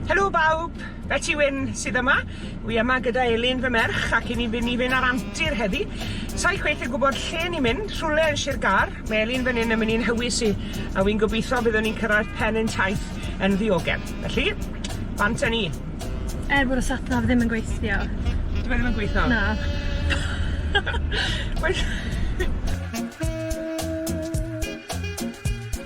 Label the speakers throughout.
Speaker 1: Helo bawb! Beti Wyn sydd yma. Wi yma gyda Elin fy merch ac i ni fyn' i fyn' ar antur heddi. Sai chweith yn gwbod lle ni'n mynd, rhwle yn Sir Gâr. Mae Elin fyn 'yn yn myn' i'n hywys i, a wi'n gobitho byddwn ni'n cyrraedd pen ein taith yn ddiogel. Felly, bant a ni. Er bod y
Speaker 2: sat nav ddim yn gweithio. Dyw e ddim yn gweitho?
Speaker 1: Na.
Speaker 2: Well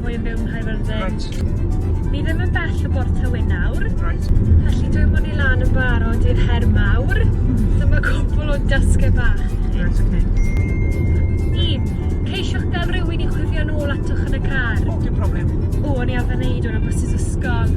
Speaker 2: Mwy yn byw yn Nghaerfyrddin. Reit. Ni
Speaker 1: ddim yn bell o
Speaker 2: Bort Tywyn nawr. Reit. Felly
Speaker 1: dwi myn' i
Speaker 2: lan yn barod i'r her mawr. Hmm. Dyma cwpwl o dasge bach i chi. Reit
Speaker 1: oce.
Speaker 2: Un, ceisiwch ga'l rywun i chwifio nôl atoch yn y car. O, dim problem.
Speaker 1: O, o'n i arfer neud
Speaker 2: 'wn ar bysus ysgol.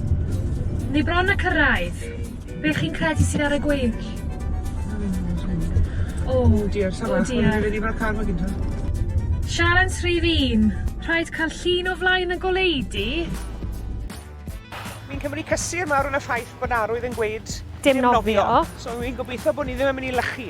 Speaker 2: Ni bron a cyrraedd. Be' chi'n credu sydd ar y gweill?
Speaker 1: O! Oh dear sawl arall ma' rhaid i fi car magu
Speaker 2: ta?
Speaker 1: Sialens
Speaker 2: rhif un, rhaid cael llun o flaen y goleudy.
Speaker 1: Fi'n cymryd cysur mawr yn y ffaith bod arwydd yn gweud dim nofio.
Speaker 2: So fi'n gobeithio
Speaker 1: bod ni ddim yn mynd i lychu.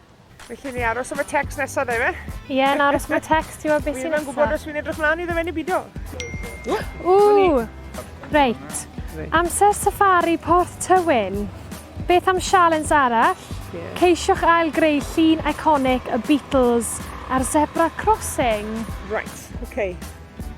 Speaker 1: Felly ni aros am y text nesaf, dda fe? Ie, yeah, na aros am y
Speaker 2: text, ti'n gwybod beth sy'n nesaf. Wi'n gwybod os fi'n edrych mlaen
Speaker 1: iddo fe neu bido.
Speaker 2: Ww! Reit. Amser safari Porth Tywyn. Beth am sialens arall? Yeah. Ceisiwch
Speaker 1: ail greu
Speaker 2: llun iconic y Beatles ar Zebra Crossing. Right,
Speaker 1: okay.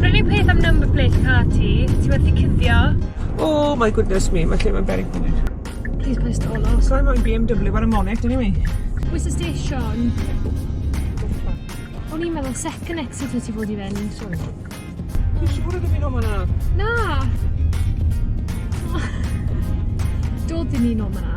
Speaker 2: Yr unig peth am number plate car ti, ti wedi cuddio. Oh my
Speaker 1: goodness me, mae lle mae'n berig fan hyn. Please paid stall
Speaker 2: off. So I'm on BMW
Speaker 1: ar y Monet, dyn ni. Where's the station?
Speaker 2: O'n i'n meddwl second exit wyt ti fod i fynd. Sorry.
Speaker 1: Ti'n siŵr ydw i'n o'n yna? Na!
Speaker 2: Dod i ni'n o'n yna.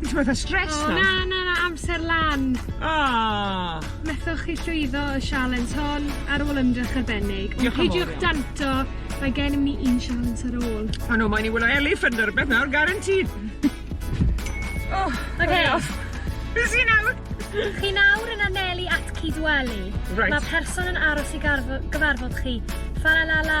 Speaker 2: Ti
Speaker 1: fatha stressed nawr? O na na na
Speaker 2: amser
Speaker 1: lan.
Speaker 2: O!
Speaker 1: Methoch chi
Speaker 2: llwyddo y sialens hon ar ôl ymdrech arbennig. Diolch yn fowr iawn. Ond peidiwch danto,
Speaker 1: mae
Speaker 2: gennym ni un sialens ar ôl. O na mae'n i wylio
Speaker 1: eliffant ne' rwbeth nawr guaranteed. O! Oce. Be'
Speaker 2: sy
Speaker 1: nawr? Chi nawr
Speaker 2: yn anelu at Cyd Weli. Reit. Ma' person
Speaker 1: yn aros
Speaker 2: i garfo- gyfarfod chi. Fa la la la.